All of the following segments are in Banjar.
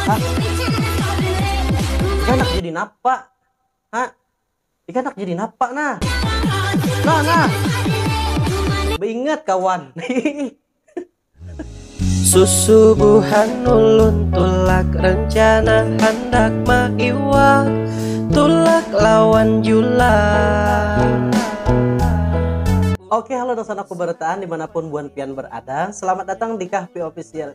Hah? Ika nak jadi napa? Hah? Ika nak jadi napa nah? Nah nah. Beingat kawan. Susubuhan ulun tulak rencana handak maiwak tulak lawan julang. Oke, halo dosan aku beretaan dimanapun buan pian berada. Selamat datang di Kahpi Official.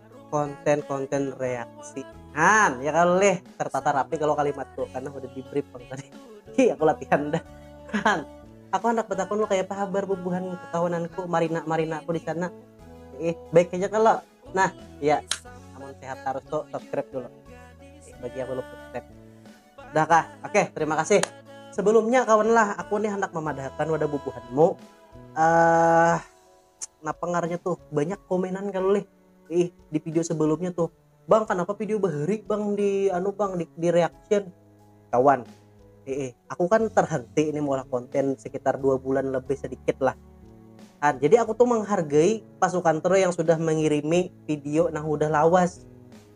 konten-konten reaksi han ya kalau leh tertata rapi kalau kalimat tuh karena udah di brief bang tadi hi aku latihan dah han aku anak betakun lo kayak apa kabar bubuhan kekawananku marina marina aku di sana eh baik aja kalau nah ya aman sehat harus tuh subscribe dulu eh, bagi yang belum subscribe dah kah oke terima kasih sebelumnya kawan lah aku nih hendak memadahkan wadah bubuhanmu eh uh, napa ngarannya tuh banyak komenan kalau leh ih di video sebelumnya tuh bang kenapa video bahari bang di anu bang di, di reaction kawan eh, eh aku kan terhenti ini mengolah konten sekitar dua bulan lebih sedikit lah kan jadi aku tuh menghargai pasukan Tro yang sudah mengirimi video nah udah lawas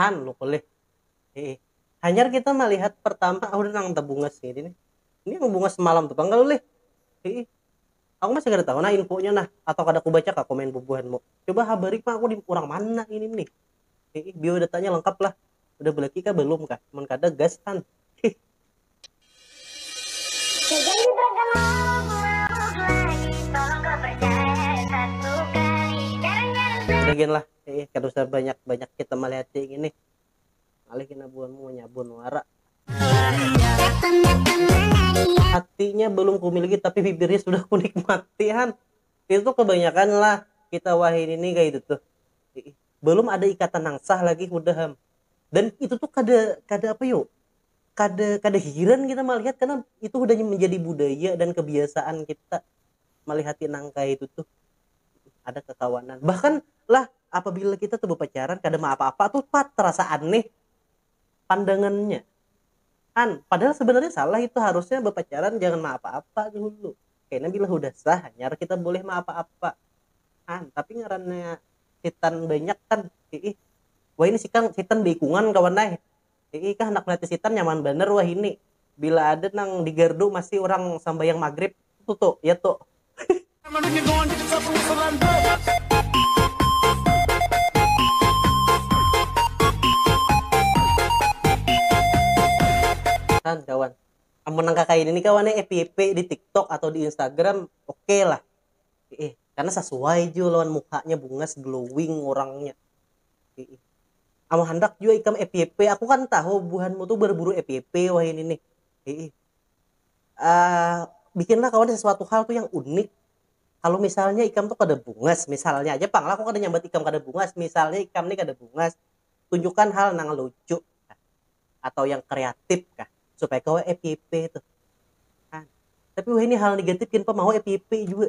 Han nukul lih. Heeh. Hanyar kita melihat pertama aku nang tabungas ini nih. Ini yang bungas semalam tuh pang lih. Heeh. Aku masih kada tahu nah infonya nah atau kada ku baca kah komen bubuhanmu. Coba habari pang aku di urang mana ini nih. Heeh. Biodatanya lengkap lah. Udah belaki kah belum kah. Mun kada gas Han. Udah lah, eh, kada usah banyak-banyak kita melihat ini. Alih kena buanmu nyabun wara. Hatinya belum kumiliki tapi bibirnya sudah kunikmati han. Itu kebanyakan lah kita wahin ini kayak itu tuh. Belum ada ikatan yang sah lagi udah ham. Dan itu tuh kada kada apa yuk kada kada hiran kita melihat karena itu sudah menjadi budaya dan kebiasaan kita melihati nangka itu tuh ada kekawanan bahkan lah apabila kita tuh berpacaran kada mau apa-apa tuh pat terasa aneh pandangannya an padahal sebenarnya salah itu harusnya berpacaran jangan mau apa-apa dulu karena bila sudah sah hanyar kita boleh mau apa-apa an tapi ngarannya hitan banyak kan ih wah ini sikang hitan beikungan kawan eh Iih ikah handak maliati sitan nyaman banar wahini, bila ada nang di gardu masih urang sambahyang magrib tu tu ya tu. Kan kawan, amun nang kakaya ini kawan ai fyp di tiktok atau di instagram ok lah. Iih karna sasuai jua lawan muhanya bungas glowing urangnya. Amun handak jua ikam FYP, aku kan tahu buhanmu tu berburu FYP wahini nih. bikinlah kawan sesuatu hal tu yang unik, kalu misalnya ikam tu kada bungas, misalnya aja pang lah aku kada nyambat ikam kada bungas, misalnya ikam ni kada bungas, tunjukkan hal nang lucu kah atau yang kreatif kah supaya kawa FYP tuh. Nah, tapi wahini hal negatif gin pang mau FYP jua.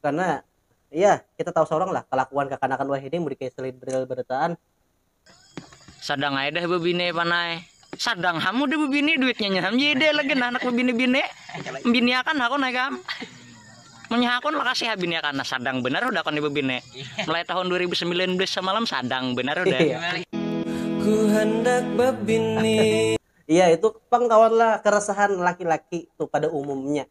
karena ya kita tahu seorang lah kelakuan kekanakan wahini mudi kayak selidril berataan Sadang ai dah bebine panai. Sadang ham udah bebini duitnya nyaham JD lagi nah anak bebini-bini. Biniakan hakon hai kam. Munya hakon lakasi ha biniakan nah sadang benar udah kon bebini. Mulai tahun 2019 samalam sadang benar udah. Iya. Ku handak bebini. Iya itu pang kawan lah keresahan laki-laki tuh pada umumnya.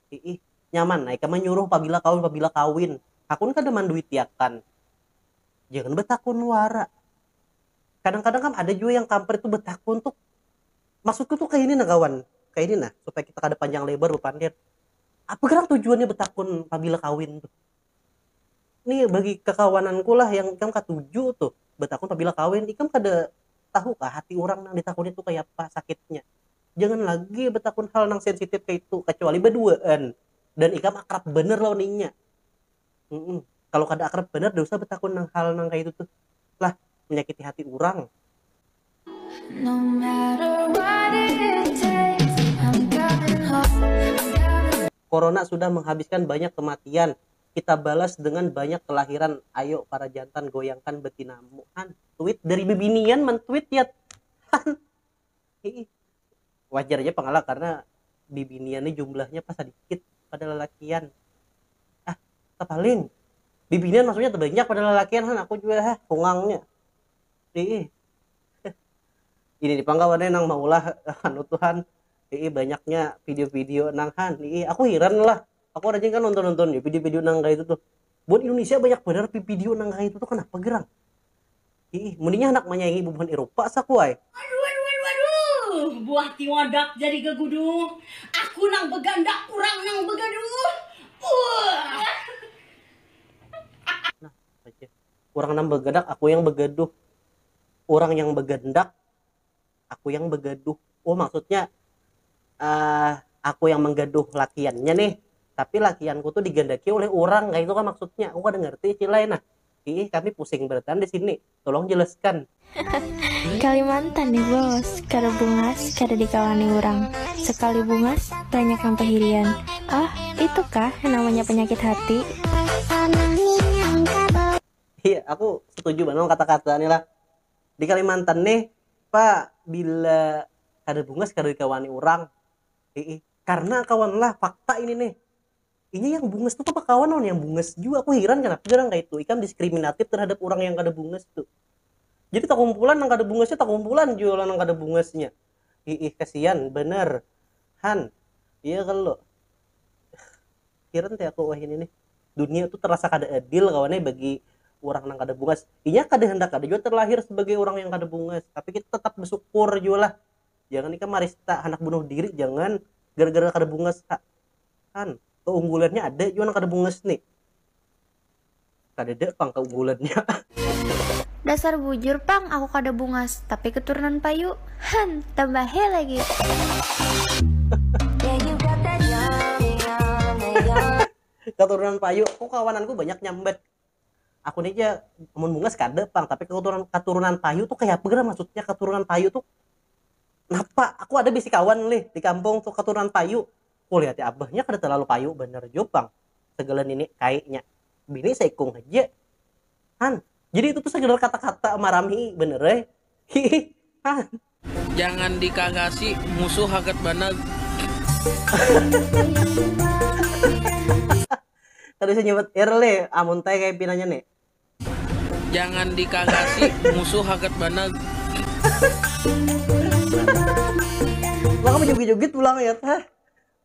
Iih, nyaman ai ka manyuruh pabila kawin pabila kawin, hakun kada manduitiakan. Jangan batakun wara. Kadang-kadang kam ada jua yang kampret tu batakun tu, maksudku tu kaini nah kawan, kaini nah supaya kita kada panjang lebar bapandir, apa gerang tujuannya batakun pabila kawin tuh? Ni bagi kakawananku lah yang ikam katuju tuh batakun pabila kawin, ikam kada tahu kah hati urang nang ditakuni tu kayapa sakitnya? jangan lagi betakun hal nang sensitif kayak itu kecuali berduaan dan ikam akrab bener lawan inya mm -mm. kalau kada akrab bener tidak usah betakun nang hal nang kayak itu tuh lah menyakiti hati orang no Corona sudah menghabiskan banyak kematian kita balas dengan banyak kelahiran ayo para jantan goyangkan betinamu han tweet dari bibinian men tweet ya han Hi-ih. Wajar ja pang lah karna bibinian ni jumlahnya pa sadikit pada lalakian. Ah, tapaling. Bibinian maksudnya tabanyak pada lalakian han, aku jua ha, kungangnya. Hi-ih. Ini ni pang kawan ne nang maulah anu tu han, hi-ih banyaknya video-video nang han. Hi-ih, aku hiran lah. Aku rajin kan nonton-nonton ya video-video nang kayak itu tuh. Buat Indonesia banyak benar video nang kayak itu tuh kenapa gerang? Ih, mendingnya anak menyaingi bubuhan Eropa sakuai. Aduh, aduh, aduh, aduh. Buah tiwadak jadi gaguduh. Aku nang begandak, urang nang begaduh. Uh. Nah, urang nang begadak, aku yang begaduh. Urang yang begandak, aku yang begaduh oh maksudnya uh, aku yang menggaduh lakiannya nih tapi lakianku tuh digandaki oleh orang kayak itu kan maksudnya aku kan ngerti cilai nah ih kami pusing beratan di sini tolong jelaskan Kalimantan nih bos kada bungas kada dikawani orang sekali bungas banyak yang pahirian ah itu kah yang namanya penyakit hati iya aku setuju banget kata-kata nih lah di Kalimantan nih pa bila kada bungas kada dikawani urang iih karna kawan lah fakta ini nih inya yang bungas tu papa kawan lawan yang bungas jua aku hiran kenapa jadi orang kaitu ikam diskriminatif terhadap urang yang kada bungas tu jadi takumpulan nang kada bungasnya takumpulan jua lawan nang kada bungasnya Hiih kasian banar han iya kalo hiran teh aku wahini nih dunia tuh terasa kada adil kawan nih bagi urang nang kada bungas inya kada handak ada jua terlahir sebagai urang yang kada bungas tapi kita tetap bersyukur jua lah jangan ikam marista handak bunuh diri jangan gara-gara kada bungas ha han keunggulannya ada jua nang kada bungas nih kadada pang kaunggulannya. Dasar bujur pang aku kada bungas tapi keturunan payu han tambah he lagi. keturunan payu aku kawananku banyak nyambat aku ni aja mun bungas kada pang tapi keturunan keturunan payu tuh kayak apa gara maksudnya keturunan payu tuh napa aku ada bisi kawan lih di kampung tuh keturunan payu Kulihat ya abah, nya kada talalu payu banar jua pang sagala nini kai nya. Bini saikung haja. Han, jadi itu tu sakedar kata-kata marami banar ai. Hiih. Han. Jangan dikagasi, musuh hagat banag. Kada bisa nyubat irr lih, amun tai kaya pinanya nih. Jangan di kagasi musuh hagat banag. Maka bajugit-jugit pulang ya ta.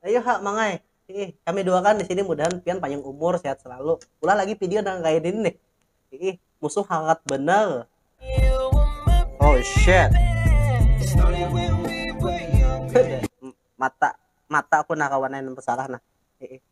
Ayu ha mangai. Hiih, kami duakan di sini mudahan pian panjang umur, sehat selalu. Ulah lagi video nang kaya ini nih. Hiih, musuh hagat banar. Oh shit. Mata mata aku nah kawan nah nang tersarah nah. Hiih.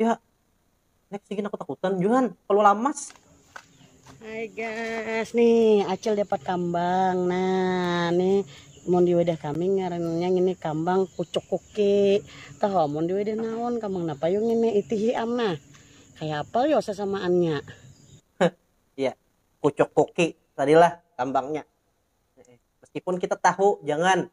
ya nek sigi aku takutan juhan kalau lamas Hai guys, nih Acil dapat kambang. Nah, nih mun di wadah kami ngarannya ini kambang pucuk kuki. Tahu mun di wadah naon kambang napa yo ngini itihi am nah. Kayak apa yo sasamaannya? Iya, pucuk kuki tadilah kambangnya. Meskipun kita tahu jangan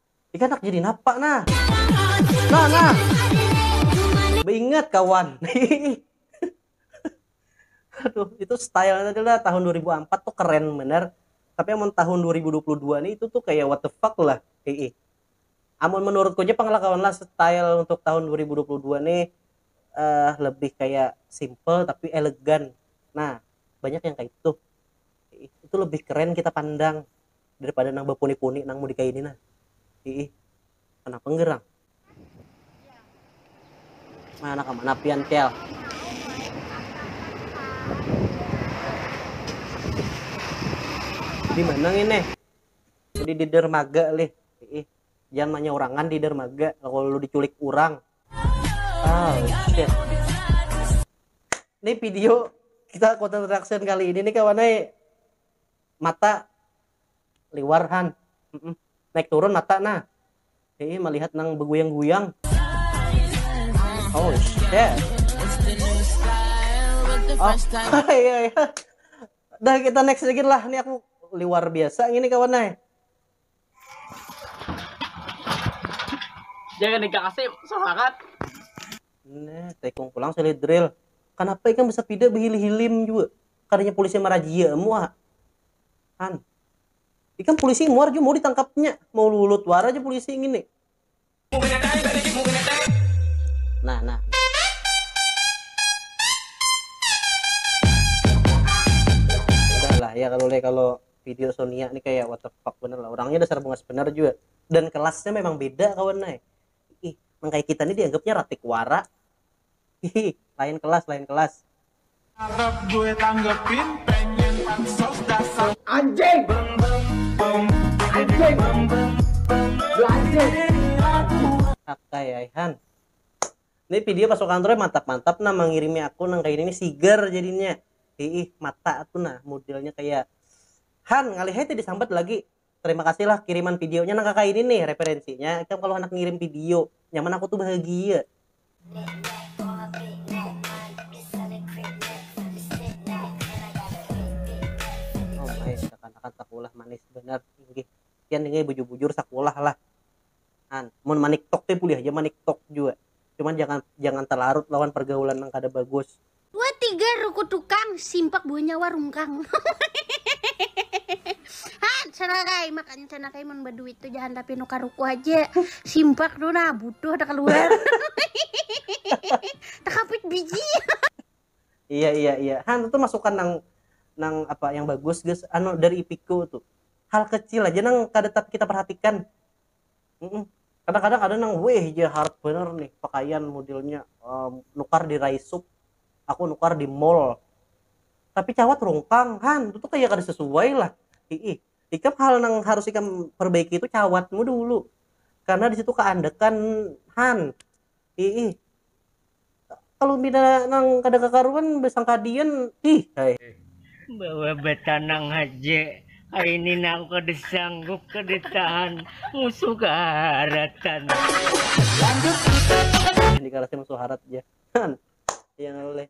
Ikam handak jadi napa nah? Nah, nah. Beingat kawan. Aduh, itu style adalah tahun 2004 tuh keren bener. Tapi amun tahun 2022 nih itu tuh kayak what the fuck lah. Ii. Amun menurutku aja pengalaman lah style untuk tahun 2022 nih uh, lebih kayak simple tapi elegan. Nah, banyak yang kayak itu. Itu lebih keren kita pandang. daripada nang bapuni-puni nang mau dikaini nah iih kenapa gerang mana anak mana pian kel di mana ini di di dermaga lih iih jangan manyaurangan di dermaga kalau lu diculik orang oh shit ini video kita konten reaction kali ini nih kawan eh mata liwar han naik turun mata nah hei melihat nang beguyang-guyang oh shit oh iya iya dah kita next sedikit lah ini aku liwar biasa ini kawan nah jangan dikasih semangat nah tekung pulang sulit drill kenapa ikan bisa pide berhilim-hilim juga kadanya polisi marajia muha han ikam polisi muar jua mau ditangkapnya mau lulut war aja polisi ngini nah nah lah ya kalau le kalau video Sonia nih kayak what the fuck bener lah orangnya dasar bungas bener juga dan kelasnya memang beda kawan nih ih nang kayak kita nih dianggapnya ratik wara Hihi, lain kelas lain kelas. Cakep gue tanggepin pengen pansos dasar. Anjing. Anjing. Anjing. Akay ai han. Ini video pas kantornya mantap-mantap nah mengirimi aku nang kayak ini sigar jadinya. Hiih mata tuh nah modelnya kayak Han ngalih tadi disambat lagi terima kasih lah kiriman video nya nang kaya ini nih referensi nya ikam kalo handak ngirim video nyaman aku tuh bahagia. Omai, kakanak-kakanak sakulah manis banar inggih. Pian inggih bujur-bujur sakulah lah. Nah, mun maniktok teh bulih haja maniktok jua, cuman jangan jangan talarut lawan pargaulan nang kada bagus. Dua tiga ruku tukang, simpak dua nyawa rungkang. Han, sanakai, makanya sanakai mun baduit tu jangan tapinu ka ruku haja. Simpak tu nah butuh ada kaluar. Takapit biji. Iya iya iya. Han itu masukan nang nang apa yang bagus guys. Anu dari Ipiko tuh. Hal kecil aja nang kada kita perhatikan. kadang-kadang ada nang weh ja harap bener nih pakaian modelnya um, nukar di Raisup aku nukar di mall tapi cawat rungkang han itu tuh kayak kada sesuai lah ih ikam hal nang harus ikam perbaiki itu cawatmu dulu karena di situ keandekan han Iih. Kalu pina nang kada kakaruan basangka dian iih ai. Bawa batanang haja ai ni nang kada sanggup kada tahan musuh kaharatan. Lanjut. Dikarasi musuh harat ja. Iih ngalih.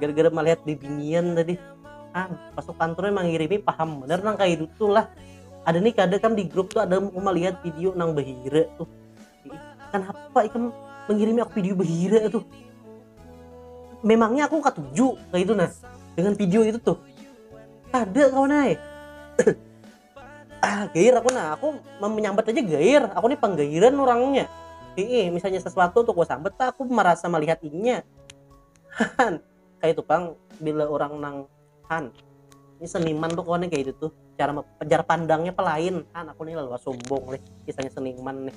gara-gara melihat bibinian tadi ah masuk kantor emang ngirimi paham bener nang kayak itu tuh lah ada nih kadang kan di grup tuh ada mau melihat video nang bahira tuh kenapa itu mengirimi aku video bahira tuh memangnya aku katuju kayak itu nah dengan video itu tuh ada kawan ay ah gair aku nah aku menyambat aja gair aku nih penggairan orangnya Ii, misalnya sesuatu untuk gue sambat aku merasa melihat inya han kayak itu pang bila orang nang han ini seniman tuh kau nih kayak itu tuh cara penjar pandangnya pelain han aku nih lalu sombong nih kisahnya seniman nih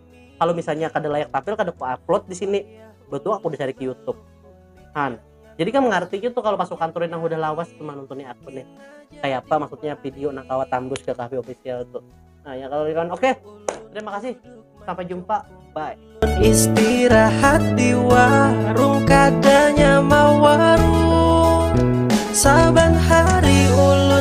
kalau misalnya kada layak tampil kada ku upload di sini betul aku dicari ke YouTube han jadi kan mengerti gitu kalau pasukan turin yang udah lawas cuma nontonin aku nih kayak apa maksudnya video nak kawa tambus ke kafe official tuh nah ya kalau kan oke okay. terima kasih sampai jumpa bye istirahat di warung kadanya mau warung saban hari ulun